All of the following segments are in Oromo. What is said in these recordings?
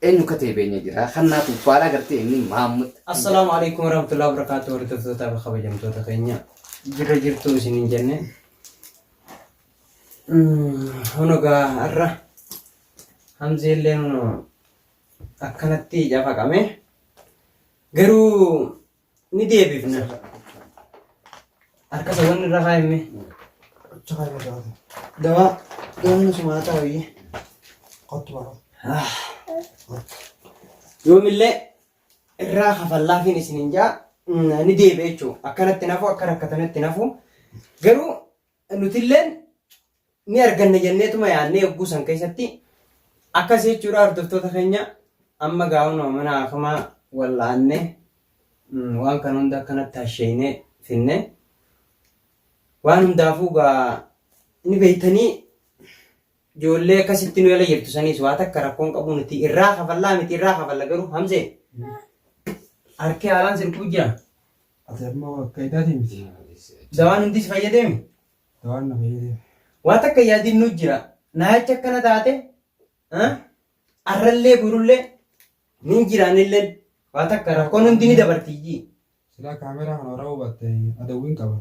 Eenyu akka ta'e beenya jira. Kan naaf uffaalaa gartee inni Maammud. Assalaamu alaikum warahmatullahi wabarakatuh hordoftoota fi kabajamtoota keenya jirra jirtu isin hin jenne hunogaa har'a hamzeellee akkanatti cafaqame garuu ni deebifna. Harka isa wanni irra kaa'ime. Achi kaa'ime dawaa. Dawaa yoomni sumaa taa'ee qottu baraa. Ah. Yoomillee irraa kafallaafiin isin hin jaa ni deebi'e jechuudha. Akkanatti nafu akka rakkatanitti nafu. Garuu Nutilleen ni arganna jenneetuma yaadne yogguu san keessatti akkas jechuudha hordoftoota keenya amma gaa'unuma mana haakimaa wal'aanne waan kana hunda akkanatti hasheeynee finne waan hundaafuu gaa ni beeytanii Ijoollee akkasitti nu jala jirtu saniis waa takka rakkoon qabu nuti irraa kafallaa miti irraa kafalla garuu hamzee harki haalaan si dhukkubuu jira. Ati ammoo akka idaati miti. Dawaan hundis fayyadeemi. Dawaan na fayyadee. Waa takka yaadiin nu jira. Naayachi akkana taate ah, arrallee borullee ni jiraanillee waa takka rakkoon hundi ni dabarti ijji. Silaa kaameeraa kana waraabuu baatte adawwiin qaba.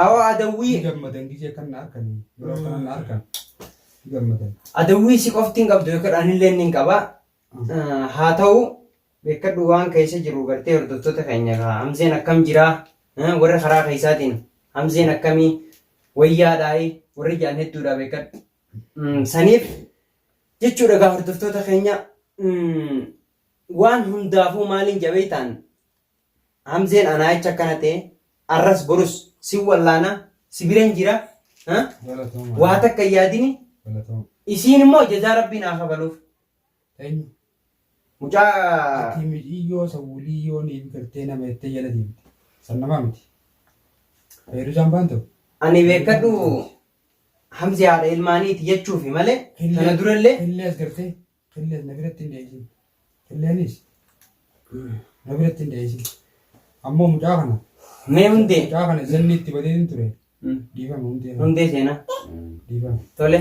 Awoo Ni adawwii gammadan gizee kan na arkan yeroo akkana na arkan ni gammadan. adawwii si qofti hin qabdu beekadhu anillee inni hin qaba. Eh, Haa ta'u beekadhu waan keessa jiru gartee hordoftoota keenya kaa hamzeen akkam jiraa Eh, warra karaa keessaatiin hamzeen akkamii wayyaadhaayi warri jaan hedduudha beekadhu. Mm, Saniif jechuudha gaa hordoftoota keenya mm, waan hundaafuu maaliin jabeeytaan Hamzeen anaayicha akkana ta'e arras borus sin wallaana si biran jira ha? Galatooma. waa takka hin yaadini Galatooma. isiin immoo jazaa rabbii naa kafaluuf Eenyu? mucaa Ati mi'iyyoo sawuliyyoo ni biqiltee nama jettee jala deemte. San namaa miti. Fayyadu jambaan ta'u. ani beekadhu hamzi haadha ilmaaniiti jechuufi malee tana durallee Illee as gartee. Qilleen na biratti hin dheeyisin. Qilleenis na biratti hin dheeyisin. Ammoo mucaa kana. Mee hundee. Mucaa kana zanni itti badeetin ture. Dhiifama hundee. Hundee seenaa. Dhiifama. Tole.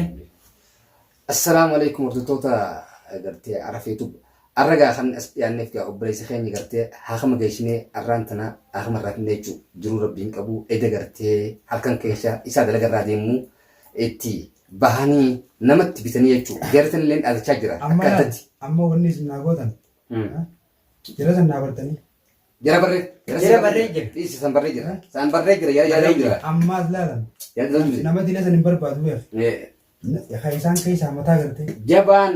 Assalaamu alaikum hordoftoota gartee arafeetub. Arra gaa kan as dhiyaanneef gaa obboleessa keenya gartee haakama geessinee arraan tana haakama irraa finnee jechuudha. Jiruu rabbiin qabu eda gartee halkan keessa isaa dalaga irraa deemuu. itti bahanii namatti bitanii jechuudha. Jarri san illee dhalachaa jira. Amma Akka laal, addatti. amma wanni isin naa gootan. ha? Jara san naa bartanii. Jara barree. Jara barree jira. Dhiisi san barree jira. San barree jira. Jara jara jira. Ammaas laalan. Jara jara jira. Nama dila san hin barbaadu beef. Eh, Kan isaan keessaa mataa gartee. Jabaan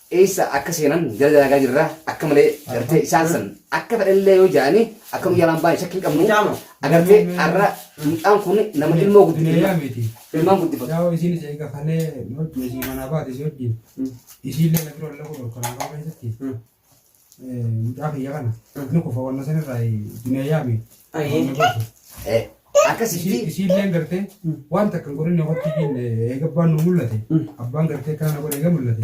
eessa akka seenan jala dalagaa jirra akka malee gartee isaan san akka fedhallee yoo jaani akka nu jalaan baane shakkiin qabnu Mucaama. agartee arra mucaan kun nama ilmoo guddifatu Hiriyaa miti. ilmaan guddifatu Yaa'u isiin isa eega kalee hojii isii manaa baate isii hojii. Isiillee na bira lafa dhorkanaa baafachatti. Mucaa kiyya kana ni kufa wanna san irraa dunee yaame. Eh, Akkas ishii Ishiilleen gartee waan takka hin godhinne hotti hin eega abbaan nu mul'ate abbaan gartee kana na godhe eega mul'ate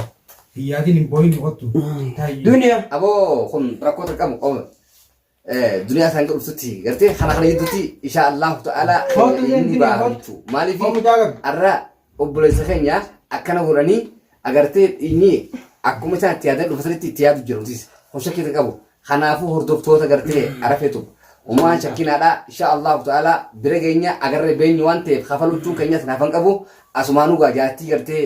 hin yaadin hin booyin hottu taayyu. Duniya. aboo kun rakkoo qabu qabu. duniyaa isaan godhuftutti gartee kana kana gidduutti insha Allahu ta'ala keenya inni ba'a jechuu maaliif arra obboleessa keenya akkana godhanii agartee inni akkuma isaan itti yaadan dhufatanitti itti yaadu jirutis hosha keessa qabu kanaafuu hordoftoota gartee arafetu umaan shakkinaadha insha Allahu ta'ala bira keenya agarree beenyu waan ta'eef kafaluchuun keenyas naafan qabu asumaanuu gaajaattii gartee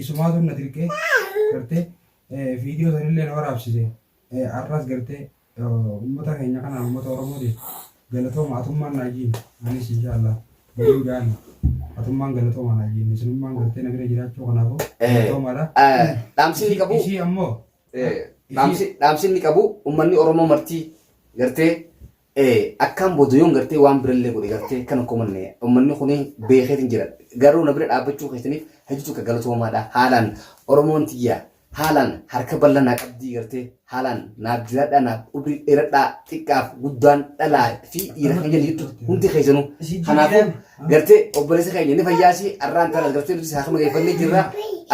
Isumaatu na dirqee gartee viidiyoo sanillee na waraabsise arras gartee uummata keenya kana uummata Oromootiif galatooma atummaan naa jiin anis inshaallah waliin gaana atummaan galatooma naa jiin isinummaan gartee na bira jiraachuu kanaafuu galatoomaadha. Dhaamsi inni qabu Isii ammoo dhaamsi inni qabu uummanni Oromoo martii gartee Akkaan booda yoon gartee waan birallee godhe gartee kan akkuma manne uummanni kun beekeetiin jira. Garuu na bira dhaabbachuu keessaniif hedduu tokko galatoomaadha. Haalaan Oromoon tiyya haalaan harka bal'aa naa qabdii gartee haalaan naaf jiraadhaa naaf umrii dheeradhaa xiqqaaf guddaan dhalaa fi dhiira kan jedhu hundi keessanuu. Kanaafuu gartee obboleessa keenya ni fayyaasi arraan tanas gartee nuti saakama geeffannee jirra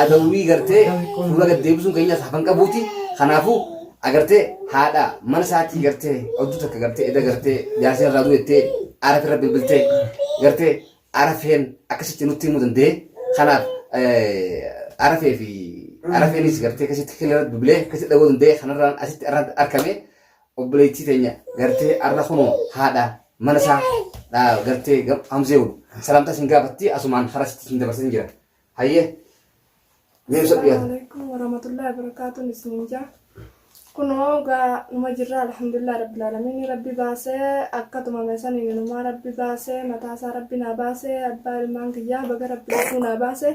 adawwii gartee fuula gad deebisuun keenyas hafan qabuuti kanaafuu agartee haadha mana isaatii gartee oduu takka gartee eda gartee jaarsi irraa du'ettee aara irra bilbiltee gartee arafeen akkasitti nutti himuu danda'e kanaaf arafee fi arafeenis gartee akkasitti kilirra bilbilee akkasitti dhagoo danda'e kanarraan asitti arraan argame obboleettii teenya gartee arra kunoo haadha mana isaa dhaa gartee gam- hamzeewu salaamtaa isin gaafatti asumaan karaa sitti isin dabarsan jira hayyee mee ibsa dhiyaata Assalamualaikum warahmatullahi wabarakatuh isninja kunoo gaa numa jirra alhamdulillah rabbil alamin rabbi baasee akka tumame saniin inumaa rabbi baasee mataasaa rabbi naa baasee abbaa ilmaan kiyyaa baga rabbi lafuu naa baasee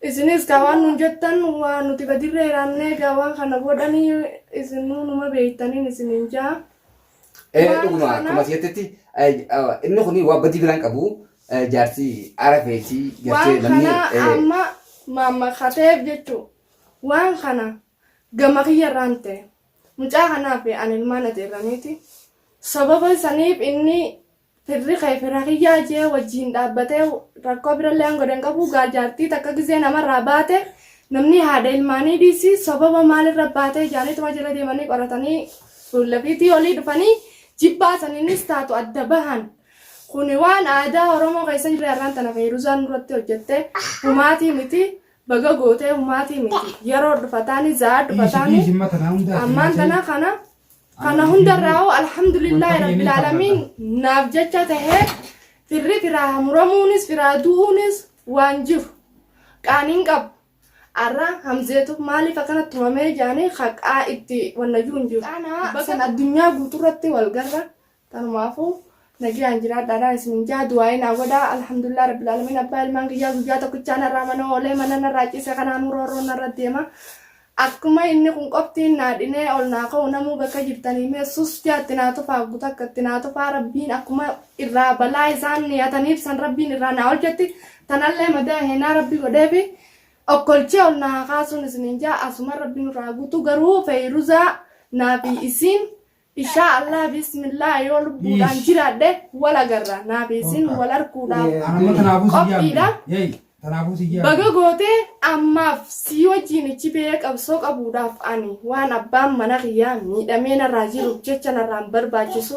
Isinis kaa waan nuun jettan waa nuti gadirra hiraannee gaa waan kana godhanii isinuu numa beektaniin isiniin jaa. Eh, Waan dhuguma kana- akkuma jettetti eh, ah, inni kun waa badii biraan qabu eh, jaarsi arafeetii gartee Waan namni kana eh, amma maammakateef jechuun waan kana gama kiyya irraan ta'e mucaa kanaaf ani ilmaan ati irraniiti. Sababa saniif inni Firri kee fira kiyyaa jee wajjiin dhaabbatee rakkoo biralleen godhe hin qabu gaa jaartii takka gizee namarraa baate namni haadha ilmaanii dhiisi sobaba maalirra baatee jaaniituma jala deemanii qoratanii fuullafiitii olii dhufanii jibbaa saniinis taatu adda bahan. Kuni waan aadaa Oromoo keessa jirre har'aan tana feeruzaan irratti hojjette humaatii miti baga gootee humaatii miti yeroo dhufataanii za'aa dhufataanii ammaan tana kana Kana hundarraa alhamdulillah rabbil alamin naaf jecha tahee firri firaa muramuunis firaa du'uunis waan jiru qaaniin qabu arra hamzeetu maaliif akkana tumamee jaanii haqaa itti wannayyuu hin jiru. Ana san addunyaa guuturratti wal garra Tanumaafu nagiyaan jiraadhaadhaan isinin jaa du'aa'ii naa godhaa alhamdulillah rabbil aalamiin abbaa ilmaan kiyyaa guyyaa tokkichaa narraa mana oolee mana narraa ciise kanaanuu roorroon narra deema akkuma inni kun qoftiin naa dhinee ol naa ka'u namuu bakka jirtanii mee sus jaatti naa tufaa guuta akka itti naa tufaa rabbiin akkuma irraa balaa isaan niyataniif san rabbiin irraa naa olchetti tanallee madaa heenaa rabbi godheefi okkolchee ol naa kaasuun isinin jaa asuma rabbiin irraa guutu garuu feeyiruzaa naa fi isiin Ishaa Allah bismillah yoo lubbuudhaan jiraadhe wal agarra naaf isin wal arguudhaaf Amma tanaafuu si Qophiidha. yaabne. Yeey, tanaafuu si yaabne. baga gootee ammaaf sii wajjiin ichi ba'ee qabsoo qabuudhaaf ani waan abbaan mana kiyyaa miidhamee narraa jiruuf jecha narraan barbaachisu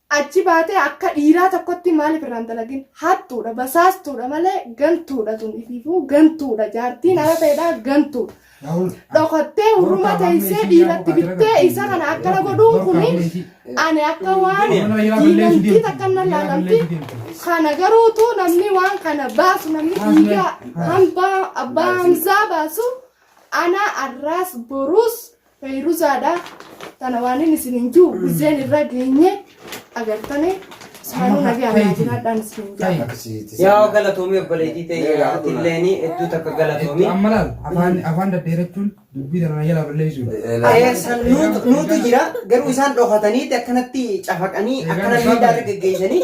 Achi baatee akka dhiiraa tokkotti maaliif irraa hin dalagin? Hattuudha, basaastuudha malee gantuudha tun ifiifuu gantuudha jaartiin arafeedha gantuudha. Dhokattee hurruma teessee dhiiratti bittee isa kana akkana godhuun kuni ani akka waan diinamtii takka nan laalamti. Kana garuutu namni waan kana baasu namni dhiiga hambaa abbaa hamzaa baasu ana arraas boruus Feyruzaadha tana waanin isinin jiru guzzeen irra geenye agartane ismaanuu nagaa irraa jiraadhaan isin jaa Yaa galatoomii obboleettii ta'e atilleeni hedduu takka galatoomii. Amma laal afaan afaan daddeerachuun dubbii sana jala balleessuudha. Ee, san nuutu nuutu jira garuu isaan dhokataniiti akkanatti cafaqanii akkana miidhaa irra geggeessanii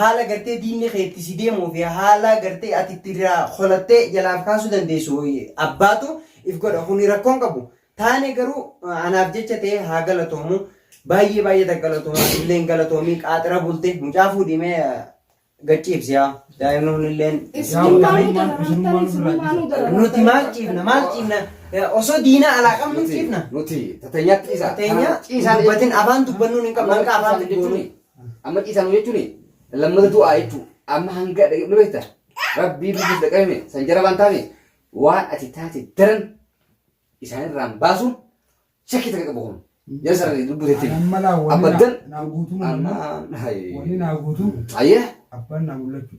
Haala gartee diinni kee itti si deemuu fi haala gartee ati itti irraa holattee jalaaf kaasuu dandeessu abbaatu if godha kuni rakkoon qabu. Taane garuu anaaf jecha ta'ee haa galatoomu. Baay'ee baay'ee ta galatoomu atilleen galatoomii qaaxira bulte mucaa fuudhimee gachiibsi yaa daa'imni kunilleen nuti maal ciifna maal ciifna osoo diina alaa qabnu ciifna. Nuti tateenyaatti ciisa. Tateenya dubbatin afaan dubbannuun hin qabnu hanqa afaan dubbannuun. Amma ciisaa nu jechuun lammata du'aa jechuu amma hanga dhaqe ni beekta rabbii biyyis dhaqabime san jara waan taane waan ati taate daran isaanirraan baasuun shakkii takka qabu kun jara sarara lubbuu teetti Amma laa wani abadan naa guutuu amma Wani naa guutuu ayyee abbaan naa mul'achuu.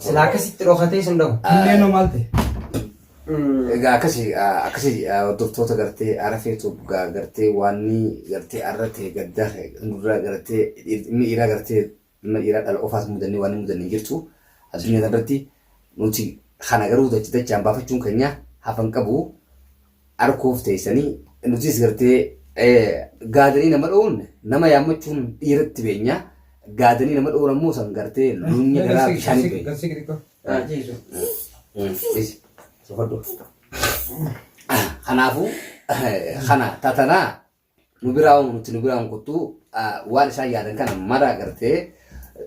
Silaa akkasitti dhokatee sun dhabu. Kunneen hoo maal ta'e? Egaa akkasi akkasi hordoftoota gartee arafee tuub gartee waan ni gartee arra ta'e gaddaa ta'e gurra gartee inni dhiiraa gartee inni dhiiraa dhala ofaas mudannee waan mudanne hin jirtu addunyaa irratti nuti kana garuu dacha dachaan baafachuun keenya hafan qabu Arkuuf teessanii nutis gartee gaadanii nama dhowuun nama yaammachuun dhiiratti beenya. Gaadanii nama dhowuun ammoo san gartee luunni garaa bishaanii beenya. Garsii xixiqqoo. Ah, ciisu. Isi, sokodhu. Kanaafuu kana tatanaa nu biraa uumu nuti nu biraa hin kuttu waan isaan yaadan kana mara gartee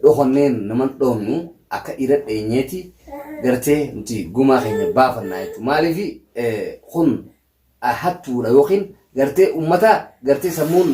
dhokannee nama hin dhoofnu akka dhiira dheenyeeti gartee nuti gumaa keenya baafannaa jechuudha. Maaliif kun hattuudha yookiin gartee ummata gartee sammuun